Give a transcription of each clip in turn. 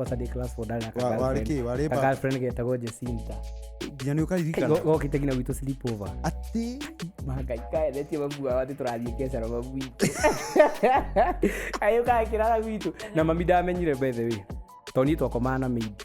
tadi class for dana Wa- warĩ kĩ warĩ ba girlfriend getagwo Jacinta nginya nĩ ũkaririkana gokite nginya gwitå sleep over atĩ magaikaeretie mabua watĩ tũrathiĩ kecaro mabu itũ ayũkaga kĩrara gwitũ na mami ndamenyire mbethe wĩ tondũ niĩ twakomaga na mĩingĩ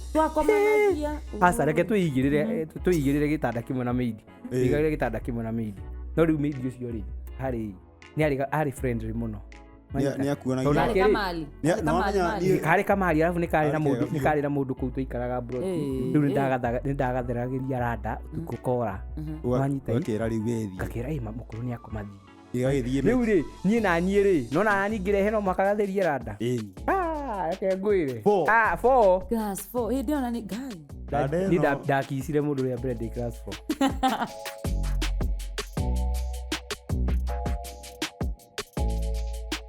twakomanagia aca reke twĩigĩrĩre twĩigĩrĩre gĩtanda kĩmwe na meidi Ĩĩ. igagĩre gĩtanda kĩmwe na meidi no rĩu meidi ũcio rĩ harĩ nĩ arĩ arĩ friendly mũno Nĩa- nĩakuonagia- Tondũ Harĩ nake rĩ, kamali Nĩa- Harĩ kamali, nĩwamenya mali. niĩ- harĩ kamari arabu nĩ karĩ na Harĩ mũndũ kega nĩ biũ. karĩ na mũndũ kũu tũikaraga Ĩĩ, rĩu ĩĩ. nĩ ndagatheragĩria randa ũtukũ kora ũga- Wanyita i- ũgakĩra rĩu wethi ngakĩra ĩ mamũkũrũ nĩ akomathiĩ Gĩgagĩthiĩ mĩ- rĩu rĩ niĩ na niĩ rĩ nona nani ngĩrehe no mũhaka gatherie randa Ĩĩ. Ah, reke ngwĩre Four. Ah, four. Class four. Hĩndĩ ĩyo na nĩ ngai. Randa Niĩ ĩno- nda- ndakicire mũndũ rĩa mbere ndĩ class four.